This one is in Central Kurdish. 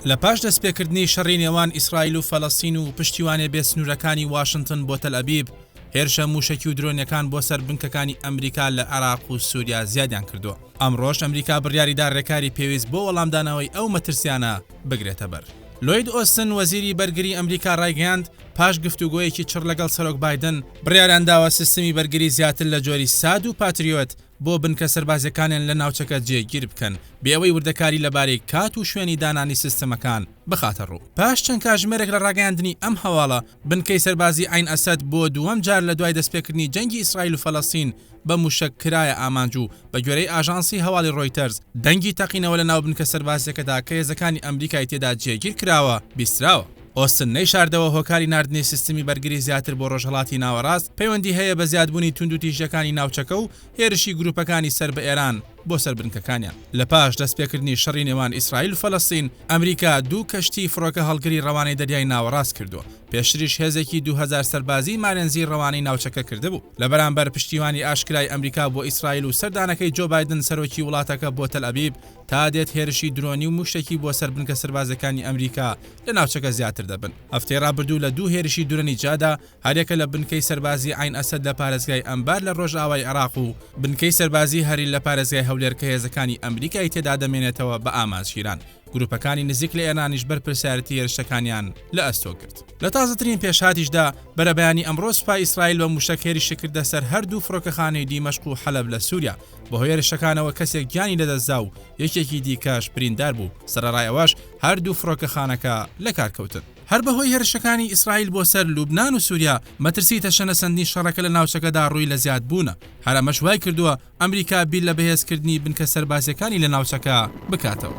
لە پاش دەستپێکردنی شەڕی نێوان ئیسرائیل و فەلەستین و پشتیوانێ بێ سنوورەکانی واشنتن بۆ تەلئەبیب، هێرشە مووشەکی و درۆنیەکان بۆ سەر بنکەکانی ئەمریکا لە عێراق و سووریا زیادیان کردووە. ئەمڕۆش ئەمریکا بڕیاری دا رێکاری پێویست بۆ وەڵامدانەوەی ئەو مەترسیانە بگرێتە بەر. لۆید ئۆستن، وەزیری بەرگری ئەمریکا رایگەیاند، پاش گفتوگۆیەکی چڕ لەگەڵ سەرۆک بایدن، بڕیاریان داوە سیستمی بەرگری زیاتر لە جۆری ساد و پاتریۆت بۆ بنکە سەربازیەکانیان لە ناوچەکە جێگیر بکەن، بێ ئەوەی وردەکاری لەبارەی کات و شوێنی دانانی سیستمەکان بخاتە ڕوو. پاش چەند کاژمێرێک لە ڕاگەیاندنی ئەم هەواڵە، بنکەی سەربازی عەین ئەسەد بۆ دووەم جار لە دوای دەستپێکردنی جەنگی ئیسرائیل و فەلەستین بە مووشەک کرایە ئامانج و بە گوێرەی ئاژانسی هەواڵی ڕۆیتەرز دەنگی تەقینەوە لە ناو بنکە سەربازیەکەدا کە هێزەکانی ئەمریکای تێدا جێگیر کراوە بیستراوە. ئۆستن نەیشاردەوە هۆکاری ناردنی سیستمی بەرگری زیاتر بۆ ڕۆژهەڵاتی ناوەڕاست پەیوەندی هەیە بە زیادبوونی توندوتیژیەکانی ناوچەکە و هێرشی گروپەکانی سەر بە ئێران بۆ سەر بنکەکانیان. لە پاش دەستپێکردنی شەڕی نێوان ئیسرائیل و فەلەستین، ئەمریکا دوو کەشتیی فڕۆکەهەڵگری ڕەوانەی دەریای ناوەڕاست کردووە، پێشتریش هێزێکی دوو هەزار سەربازیی مارێنزی ڕەوانەی ناوچەکە کردبوو. لە بەرامبەر پشتیوانی ئاشکرای ئەمریکا بۆ ئیسرائیل و سەردانەکەی جۆ بایدن سەرۆکی وڵاتەکە بۆ تەلئەبیب، تا دێت هێرشی درۆنی و مووشەکی بۆ سەر بنکە سەربازییەکانی ئەمریکا لە ناوچەکە زیاتر دەبن. هەفتەی ڕابردوو لە دوو هێرشی درۆنی جادا، هەریەکە لە بنکەی سەربازیی عەین ئەسەد لە پارێزگای ئەنبار لە ڕۆژئاوای عێراق و بنکەی سەربازیی هەریل لە پارێزگای هەولێر کە هێزەکانی ئەمریکای تێدا دەمێنێتەوە بە ئامانج گیران. گرووپەکانی نزیک لە ئێرانیش بەرپرسیارێتی هێرشەکانیان لە ئەستۆ گرت. لە تازەترین پێشهاتیشدا، بەرەبەیانی ئەمڕۆ سوپای ئیسرائیل بە مووشەک هێرشی کردە سەر هەردوو فڕۆکەخانەی دیمەشق و حەلەب لە سووریا. بەهۆی هێرشەکانەوە کەسێک گیانی لەدەستدا و یەکێکی دیکەش بریندار بوو سەرڕای ئەوەش هەردوو فڕۆکەخانەکە لە کارکەوتن. هەر بەهۆی هێرشەکانی ئیسرائیل بۆ سەر لوبنان و سووریا، مەترسی تەشەنەسەندنی شەڕەکە لە ناوچەکەدا ڕووی لە زیادبوونە، هەر ئەمەش وایکردووە ئەمریکا بیر لە بەهێزکردنی بنکە سەربازییەکانی لە ناوچەکە بکاتەوە.